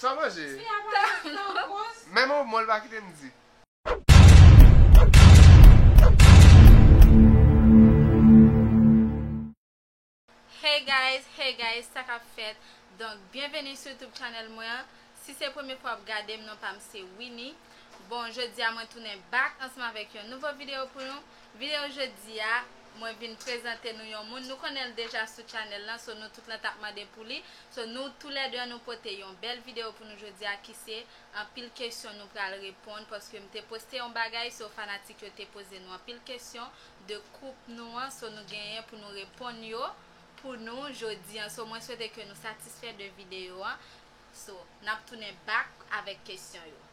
Sa manje ye? Menm yon mo l pa kite m di. Hey guys hey guys sa kap fèt donk byenveni sou youtube channel mwen an si se premye fwa wap gadem non pam se Winnie bon jodia mwen tounen back ansanm avèk yon nouvo video pou nou Video jodi a Mwen vin prezante nou yon moun nou konnen l deja sou channel lan so nou tout lan tap mande pou li so nou tou lè 2 an nou pote yon bèl video pou nou jodi a ki se anpil kesyon nou pral reponn paske m te poste yon bagay so fanatik yo te poze nou anpil kesyon de koup nou an so nou genyen pou nou reponn yo pou nou jodi an so mwen swete ke nou satisfè de video an so nap tounen back avèk kesyon yo.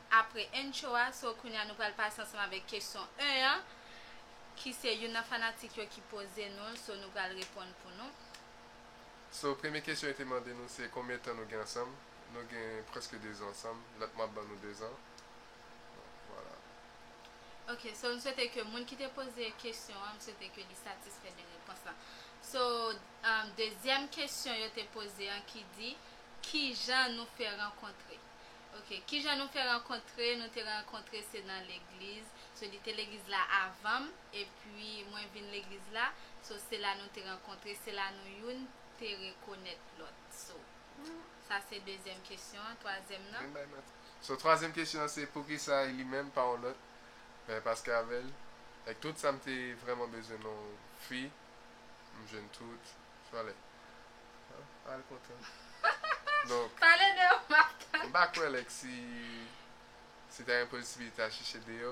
apre intro a so kounye a nou pral pase ansanm avèk kesyon 1 an ki se youn nan fanatik yo ki poze nou l so nou pral reponn pou nou. So premye kesyon yo te mande nou se konbyen tan nou gen ansanm nou gen prèske 2 zan ansanm lòt mwa ap ban nou 2 zan vwala. Ok so m swete ke moun ki te poze kesyon an m swete ke li satisfè de repons la so dezyèm kesyon yo te poze an ki di kijan nou fè rankontre. Ok kijan nou fè rankontre nou te rankontre se nan legliz so li te legliz la avanm epi mwen vin legliz la so se la nou te rankontre se la nou youn te rekonèt lòt so sa se dezyèm kesyon an twazyèm nan. So twazyèm kesyon an se poukisa e li menm pa yon lòt paske avèl avk tout sam te vrèman bezwen yon fi. M jwenn tout valè. Pale kontan. Donk. Pale de ou Marc-Antoine. M pa kwè like si si ta gen posibilite a chèche deyò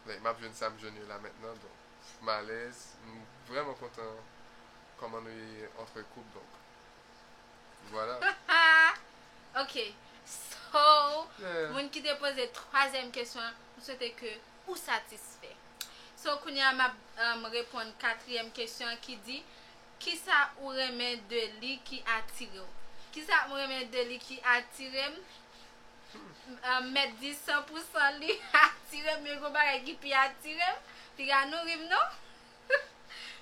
like map jwenn sa m jwenn yo la mentnan donk m alèz m vrèman kontan kòman nou ye antre koup donk vwala. Ok so moun ki te poze twazyèm kesyon an m swete ke ou satisfè. So kounye a map reponn katriyèm kesyon an ki di, kisa ou renmen de li ki atirew? Kisa m renmen de li ki atire m? M mèt di san pou san li atire m men gon bagay ki pi atire m, piga nou ri m non,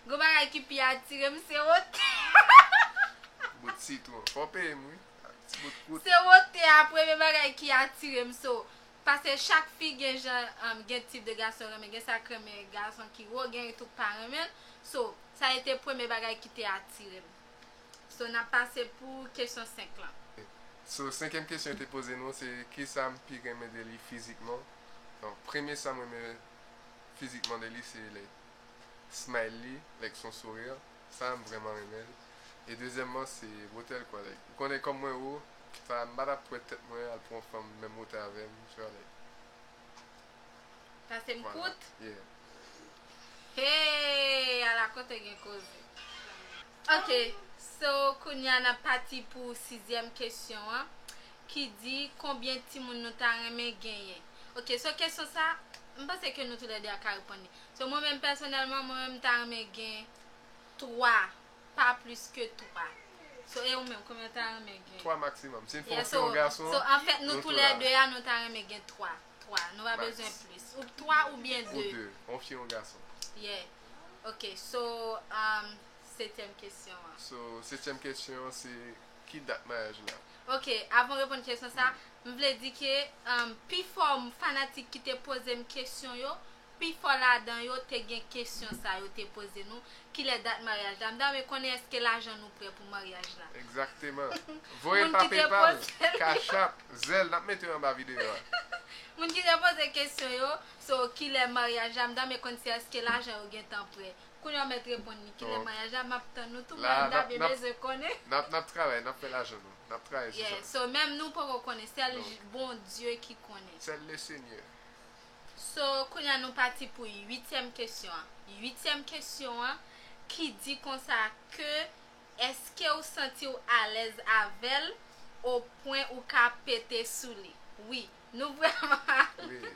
gon bagay ki pi atire m se wote a premye bagay ki atire m so Pase chak fi gen jan gen tip de gason yo renmen gen sa k renmen gason ki wo gen yo tou k pa renmen l so sa e te premye bagay ki te atire m so n ap pase pou kesyon 5 lan. So senkyèm kesyon yo te poze nou se kisa m pi renmen de li fizikman bon premye sa m renmen fizikman de li se like smile li like son sourire Sa m vrèman renmen l. E dezyèmman se wotè l kòrèk. Ou konnen kòm mwen wo, sa m pa ta pwèt tèt mwen al pou yon fanm menm wotè avè m, tu vois like. Pase m Voilà, kout? yeah. Hey ala kote gen koze. Ok so kounye a n ap pati pou sizyèm kesyon an ki di konbyen timoun nou ta renmen genyen. Ok so kesyon sa m panse ke nou tou lè 2 a ka reponn li. So mwen menm pèsonèlman mwen menm ta renmen gen 3 pa plis ke 3 so e ou menm konbyen ou ta renmen gen? 3 maksimòm si fè w fi yon gason so anfèt nou tou lè 2 a nou ta renmen gen 3 3 nou pa bezwen plis ou 3 ou byen 2 ou 2 yon fi yon gason ye ok so umm setyèm kesyon an so setyèm kesyon an se ki dat maryaj la ok avan w reponn kesyon sa m vle di ke umm pifò fanatik ki te poze m kesyon yo Pifò ladan yo te gen kesyon sa yo te poze nou, Kilè dat maryaj la? M ta renmen konnen èske lajan nou prè pou maryaj la? Egzakteman. Voye pa PayPal, Cash App, Zelle, n ap mete yo anba videyo a. Moun ki te poze kesyon yo, So, kilè maryaj la? M ta renmen konn si èske lajan yo gentan prè. Kounye a w mèt reponn li. Kilè maryaj la? M ap tann nou tou mwen m ta byen bezwen konnen. N ap, n ap travay, n ap fè lajan nou. N ap travay sou sa. Yeah, so menm nou poko konnen, sèl Bondye ki konnen. Sèl Lesenyè. So, kounye a nou pati pou uityèm kesyon an. Uityèm kesyon an, ki di konsa ke, Èske ou santi ou alèz avè l o pwen ou ka pete sou li? Wi. Nou vrèman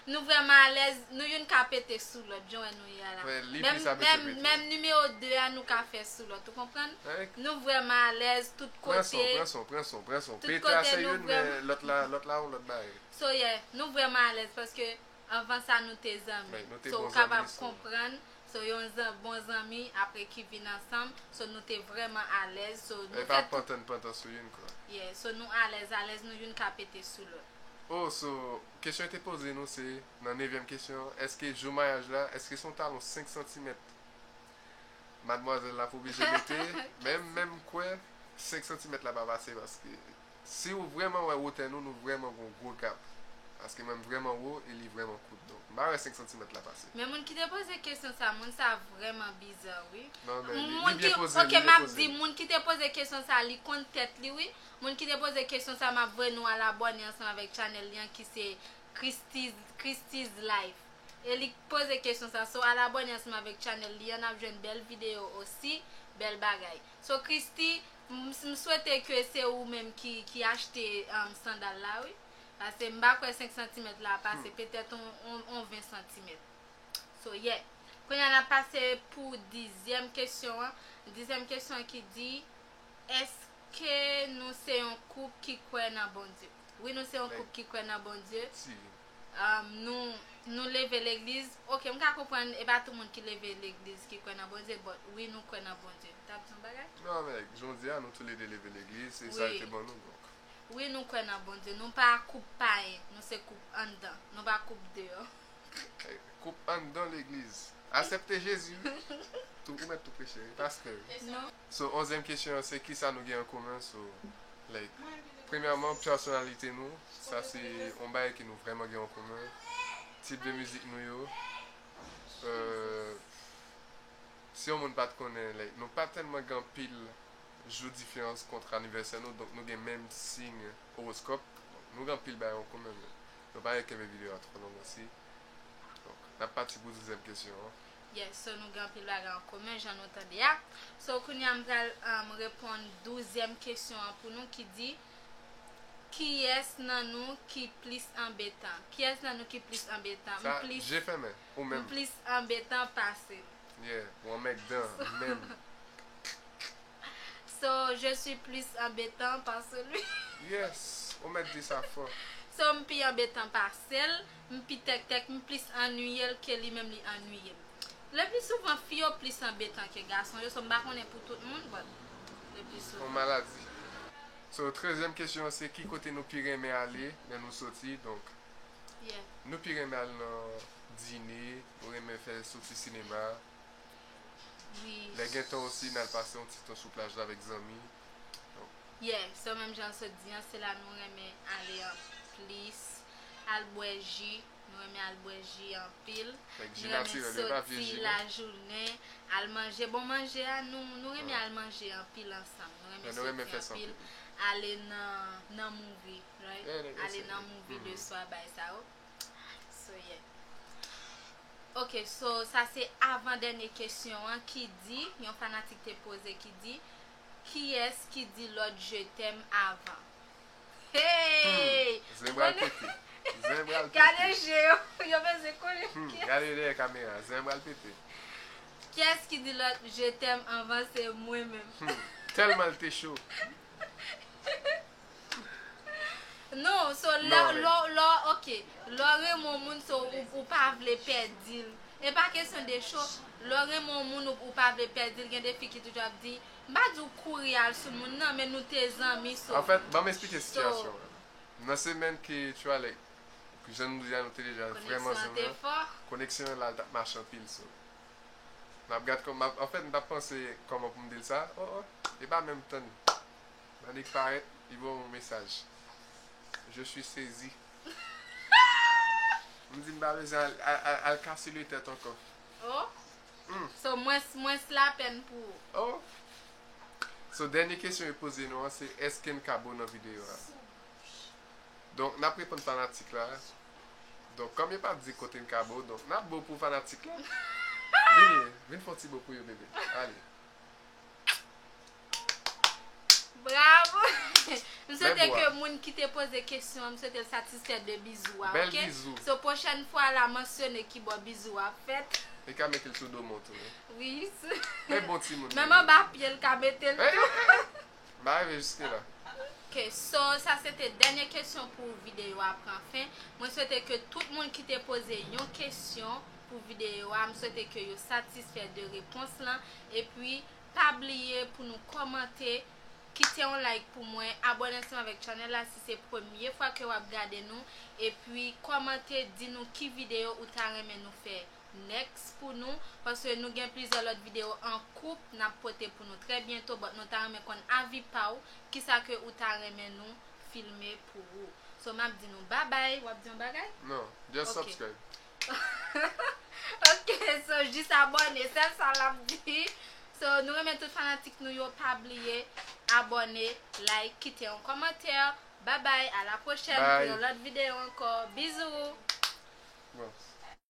Nou vrèman alèz, nou youn ka pete sou lòt, jan w wè nou ye a la. Mwen li pi sa mesye pete. Menm nimewo 2 a nou ka fè sou lòt. Ou konprann? Nou vrèman alèz tout kote. Pran son, pran son, pran son, pran son. Pete a se youn men lòt la, lòt la yon lòt bagay. So yeah, nou vrèman alèz paske anvan sa nou te zanmi. So ou kapab konprann, so yon zan bon zanmi apre ki vin ansanm, so nou te vrèman alèz, so nou fè tout. Pantan pantan sou youn kwa. Yeah, so nou alèz alèz nou youn ka pete sou lòt. Oh so kesyon yo te poze nou se nan nevyèm kesyon an, èske jou mayaj la, èske se yon talon 5 santimèt madmwazèl la pou oblije mete, menm menm kwè 5 santimèt la pa pase paske. Siw vrèman wè wotè nou nou vrèman gon gwo gap paske mwen m vrèman wo e li vrèman kout donk m pa wè 5 santimèt la pase. Men moun kite poze kesyon sa moun sa vreman biza wi moun ki ok map di moun kite poze kesyon sa li konn tèt li wi moun kite poze kesyon sa map voye nou al abòne ansanm avèk chanèl li an ki se christy's life e li poze kesyon sa so al abòne ansanm avèk chanèl li an nap jwenn bèl videyo osi bèl bagay so christy M swete ke se ou menm ki achte sandal la wi. Pase m pa kwè 5 santimèt la pase petèt on 20 santimèt. So yeah. Kounye a n ap pase pou dizyèm kesyon an. Dizyèm kesyon an ki di, Èske nou se yon koup ki kwè nan Bondye? Wi nou se yon koup ki kwè nan Bondye. Nou leve legliz ok m ka konprann epa tou moun ki leve legliz ki kwè nan Bondye but wi nou kwè nan Bondye tap di yon bagay? Non men jodia nou tou le 2 leve legliz se sa yo te ban nou donk. Wi nou kwè nan Bondye nou pa koup payen nou se koup anndan nou pa koup deyò. Koup anndan legliz asepte Jezi wi tou ou mèt tou preche wi pastè wi. So onzyèm kesyon an se kisa nou gen an komen so like premyèman pèsonalite nou sa se yon bagay ke nou vrèman gen an komen tip de mizik nou yo euh si yon moun pat konnen like nou pa tèlman gen anpil jou diferans kontre anivèsè nou donk nou gen menm siy owoskòp donk nou gen anpil bagay an komen men nou pa gen kenbe videyo a twò long osi donk nap pati pou dezyèm kesyon an. Yes so nou gen anpil bagay an komen jan nou tande a So kounye a m pral reponn douzyèm kesyon an pou nou ki di Kiyès nan nou ki plis anbetan Kiyès nan nou ki plis anbetan M plis Je fèmen Ou menm M plis anbetan pase l Yeah Ou anmègdan menm So je suis plus embêtant pase lui Yes Ou mèt di sa fò So m pi anbetan pase l. M pi tèktèk, m plis annwiye l ke li menm li annwiye m. Lepli souvan fi yo plis anbetan ke gason yo so m pa konnen pou tout moun but lepli souvan. Yon maladi. So trezyèm kesyon an se ki kote nou pi renmen ale lè nou soti donk nou pi renmen al nan dine, nou renmen fè soti sinema, lè gen tan osi n al pase yon ti tan sou plaj la avèk zanmi. Yeah so menm janl sot di an se la nou renmen ale an plis al bwè ji nou renmen al bwè ji anpil nou renmen soti lajounen al manje bon manje a nou renmen al manje anpil ansanm nou renmen soti anpil ale nan movie ale nan movie le swa bay sa yo. Soyè. Ok so sa se avan dènye kesyon an ki di yon fanatik te poze ki di kiyès ki di lòt je tèm avan. Heyy! Zen pral pete. Zen pral pete. Gade je yo. Yo bezwen konnen kiyès. Hum gade dèyè kamera. Zen pral pete. Kiyès ki di lòt je tèm anvan se mwen menm. Hum tèlman l te cho. Non, so lè lò ok, lè w renmen yon moun so ou pa vle pèdi l. E pa kesyon de cho, lè w renmen yon moun ou pa vle pèdi l, gen de fi ki toujou ap di, m pa di w kouri al sou moun nan men nou te zanmi so. Anfèt, ban m esplike sitiyasyon an. Nan semèn ke tu a lè jan nou di a nou te deja vrèman zanmi an, koneksyon an la l t ap mache anpil so. M ap gad kòman, anfèt m t ap panse kòman pou m di l sa, o o, e pa menm tann. Manick parèt li ba w yon mesaj Je suis saisi M di m pa bezwen al kase le tèt ankò Oh So mwens lapèn pou ou Oh So dènye kesyon yo poze nou an se èske n ka bo nan videyo a Donk n ap reponn fanatik la Donk kòm yo pa di kote n ka bo donk n ap bo pou fanatik la Vini Vin fè yon ti bo pou yo bebe Ale Bravo M swete ke moun ki te poze kesyon an m swete l satisfè de bizou a ok So pwochèn fwa la mansyone ki bò bizou a ap fèt Li ka mete l sou do moun tou Wi sou Men bon timoun li ye Menm anba pye l ka mete l tou M pa rive jiske la Ok so sa se te dènye kesyon pou videyo a pran fen Mwen swete ke tout moun ki te poze yon kesyon pou videyo a m swete ke yo satisfè de repons lan Epi Pa bliye pou nou kòmante, kite yon like pou mwen, abòne ansanm avèk channel la si se premye fwa ke wap gade nou, epi kòmante di nou ki video ou ta renmen nou fè next pou nou, paske nou gen plizyè lòt video an koup nap pote pou nou trè byento but nou ta renmen konn avi paw kisa ke ou ta renmen nou filme pou ou. So map di nou babay, wap di yon bagay? Non, just subscribe. Ok. Ok so jis abone sèl sa lap di So nou renmen tout fanatik nou yo pa bliye abone like kite yon kòmantè Babay a la pwochèn pou yon lòt videyo ankò Bizou.